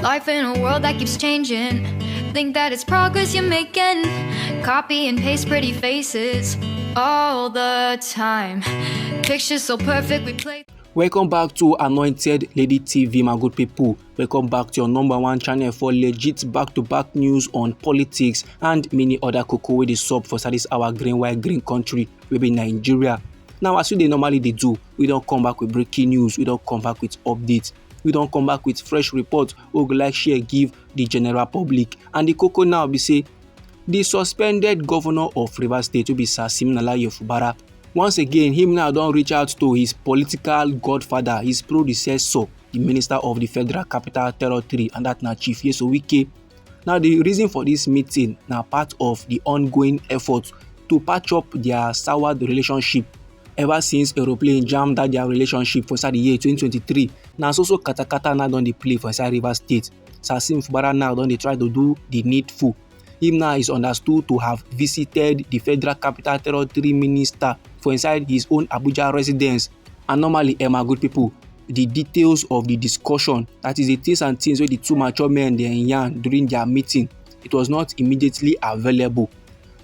Life in a world that keeps changing. Think that it's progress you're making. Copy and paste pretty faces all the time. Pictures so perfect, we play. welcome back to anointed lady tv my good people welcome back to your number one channel for legit back-to-back -back news on politics and many other cocoa wey dey sub for service our green white green country wey be nigeria now as we dey normally dey do we don come back with breaking news we don come back with updates we don come back with fresh report wey we go like share give the general public and the koko now be say the suspended governor of rivers state wey be sir siminalayi ofubara once again him now don reach out to his political godfather his predecessor the minister of the federal capital territory and that na chief yeso wike now the reason for this meeting na part of the ongoing effort to patch up their soured relationship ever since aeroplane jam that their relationship for inside the year 2023 na so so katakata now don dey play for inside rivers state sasim fubara now don dey try to do the needful him now is understood to have visited the federal capital territory minister for inside his own abuja residence and normally emma good people the details of the discussion that is the things and things wey the two mature men dey yarn during their meeting it was not immediately available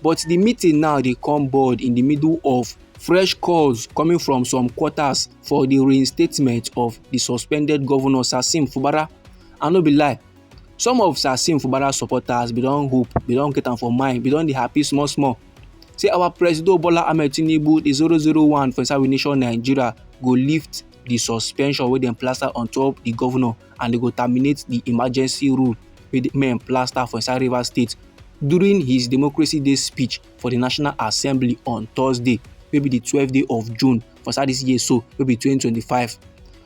But di meeting now dey come board in di middle of fresh calls coming from some quarters for di reinstatement of di suspended governor Sasim Fubara. I no be lie, some of Sasim Fubara supporters bin don hope, bin don get am for mind, bin don dey happy small small say our presido Bola Ahmed Tinubu, di zero zero one for inside we nation Nigeria go lift di suspension wey dem plaster on top di governor. and dem go terminate di emergency rule wey di men plaster for inside Rivers State during his Democracy Day speech for di National Assembly on Thursday wey be di twelve day of June for inside dis year so wey be twenty twenty five.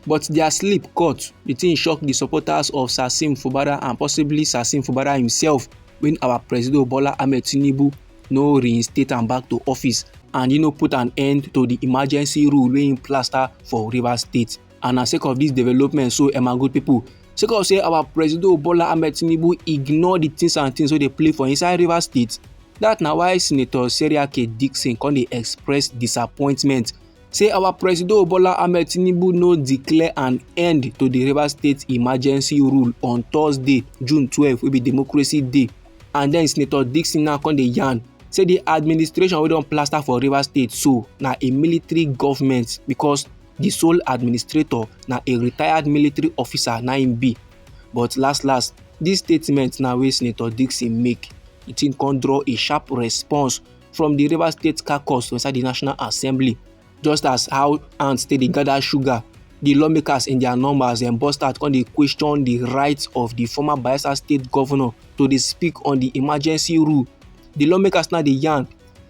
But dia sleep cut, di tin shock di supporters of Sasim Fubara and possibly Sasim Fubara himself wen our Presido Bola Ahmed Tinubu no reinstate am back to office and e no put an end to di emergency rule wey im plaster for Rivers State. and na sake of dis development so eh my good pipo sake of say our presido bola ahmed tinubu ignore di tins and tins wey dey play for inside rivers state dat na why senator seriake dixon come dey express disappointment say our presido bola ahmed tinubu no declare an end to di rivers state emergency rule on thursday june twelve wey be democracy day and den senator dixon now come dey yarn say di administration wey don plaster for rivers state so na a military goment becos the sole administrator na a retired military officer na im be but last last this statement na wey senator dixon make the thing come draw a sharp response from the rivers state caucus for inside the national assembly just as how ants take dey gather sugar the lawmakers in their numbers dem burst out come dey question the right of the former bayelsa state governor to dey speak on the emergency rule the lawmakers now dey yarn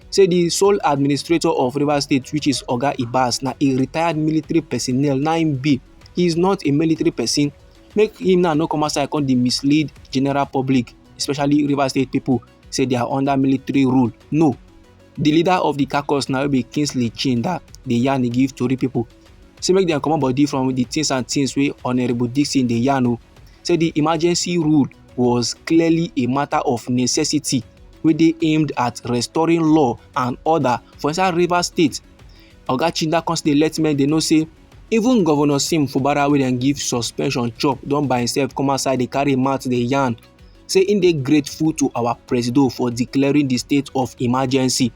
say di sole administrator of rivers state which is oga ibas na a retired military personnel na im be he is not a military person make him now no come outside come dey mislead general public especially rivers state people say they are under military rule no the leader of the caucus na be kingsley chinda dey yarn e give tori people say make dem comot body from the things and things wey honourable dixon dey yarn o say the emergency rule was clearly a matter of necessity wey dey aimed at restoring law and order for inside rivers state oga chinda come still dey let men dey know say even governor sim fubara wey dem give suspension chop don by himself come outside dey carry mouth dey yarn say im dey grateful to our presido for declaring di state of emergency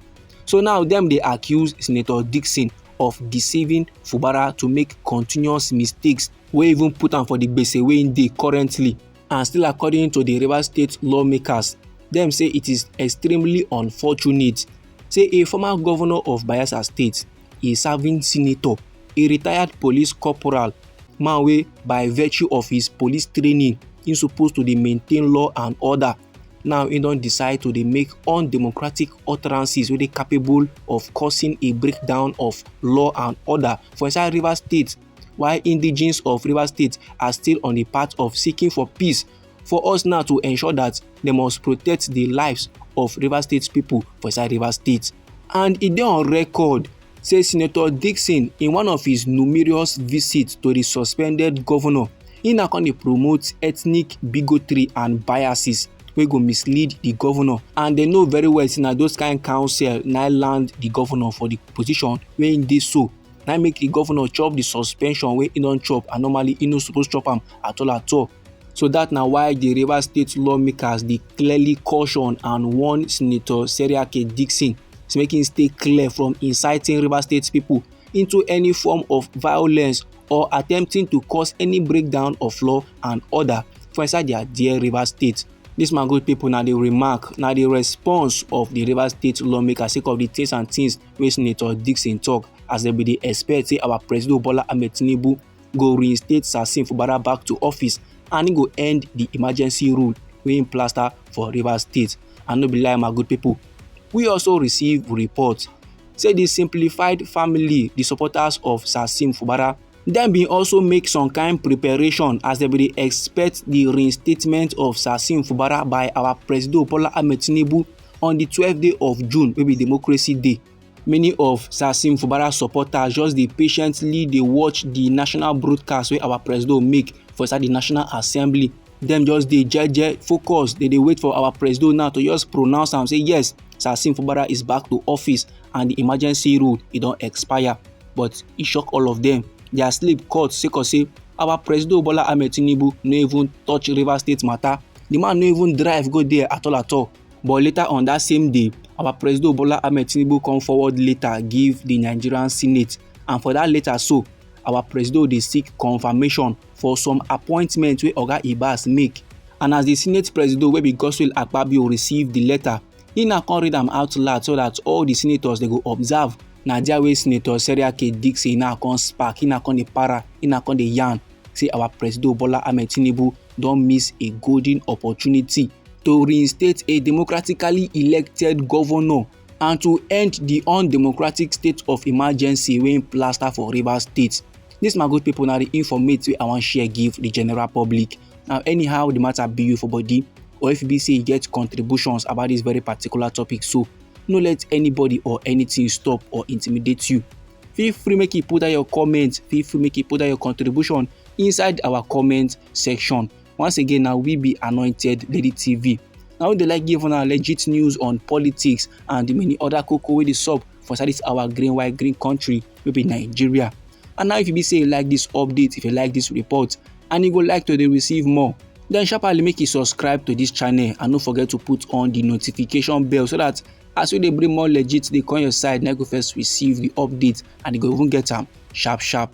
so now dem dey accuse senator dixon of deceiving fubara to make continuous mistakes wey even put am for di gbese wey im dey currently And still according to the Rivers State lawmakers, them say it is extremely unfortunate. Say a former governor of Bayelsa State, a serving senator, a retired police corporal, man wey by virtue of his police training, he supposed to dey maintain law and order. Now he don decide to dey make undemocratic utterances wey dey capable of causing a breakdown of law and order for inside Rivers State. while indigenes of Rivers State are still on the path of seeking for peace. For us now to ensure that they must protect the lives of Rivers State people for inside Rivers State. And e dey on record say Senator Dixon in one of his numerous visits to the suspended governor, he now come dey promote ethnic bigotry and biases wey go mislead the governor and they know very well say na those kind counsel na land the governor for the position wey im dey so na make the governor chop the suspension wey he don chop and normally he no suppose chop am at all at all so that na why the Rivers State lawmakers dey clearly caution and warn Senator Seriake Dixon to make him stay clear from inciting Rivers State people into any form of violence or attempting to cause any breakdown of law and order for inside their dear Rivers State. This man good people na the remark na the response of the Rivers State lawmakers sake of the things and things wey Senator Dixon tok as dem bin dey expect say our Presido Bola Ahmed Tinubu go reinstate Sasin Fubara back to office and he go end the emergency rule wey im plaster for Rivers State. And no be lie my good pipo, we also receive report say di simplified family, di supporters of Sasin Fubara Dem bin also make some kain preparation as dem bin dey expect di reinstatement of Sasim Fubara by our Presido Bola Ahmed Tinubu on di twelve day of June wey be Democracy Day. Many of Sasim Fubara supporters just dey patiently dey watch di national broadcast wey our Presido make for inside di National Assembly dem just dey jeje focus dey dey wait for our presido now to just pronounce am say yes Sasim Fubara is back to office and the emergency rule e don expire but e shock all of them their sleep cut sake of say our presido Bola Ahmed Tinubu no even touch Rivers State matter the man no even drive go there at all at all but later on that same day our presido Bola Ahmed Tinubu come forward later give the Nigerian Senate and for that letter so our presido dey seek confirmation for some appointment wey oga ibas make and as di senate presido wey be godswill akpabio receive di letter e na come read am out loud so dat all di senators dey go observe na dia wey senator seriake dixie na come spark e na come dey para e na come dey yarn say our presido bola ahmed tinubu don miss a golden opportunity to reinstate a democratically elected governor and to end the undemocratic state of emergency wey plaster for rivers state This my good people na the informate wey i wan share give the general public now anyhow the matter be you for body or if e be say you get contributions about this very particular topic so no let anybody or anything stop or intimidate you feel free make you put down your comment feel free make you put down your contribution inside our comment section Once again, now we be anointed Lady TV. Now we dey like give una legit news on politics and the many other cocoa wey dey sup for inside this our green white green country wey be Nigeria. And now if you be say you like this update, if you like this report, and you go like to dey receive more, then sharply make you subscribe to this channel and no forget to put on the notification bell so that as we dey bring more legit dey come your side na you go first receive the update and you go even get am sharp sharp.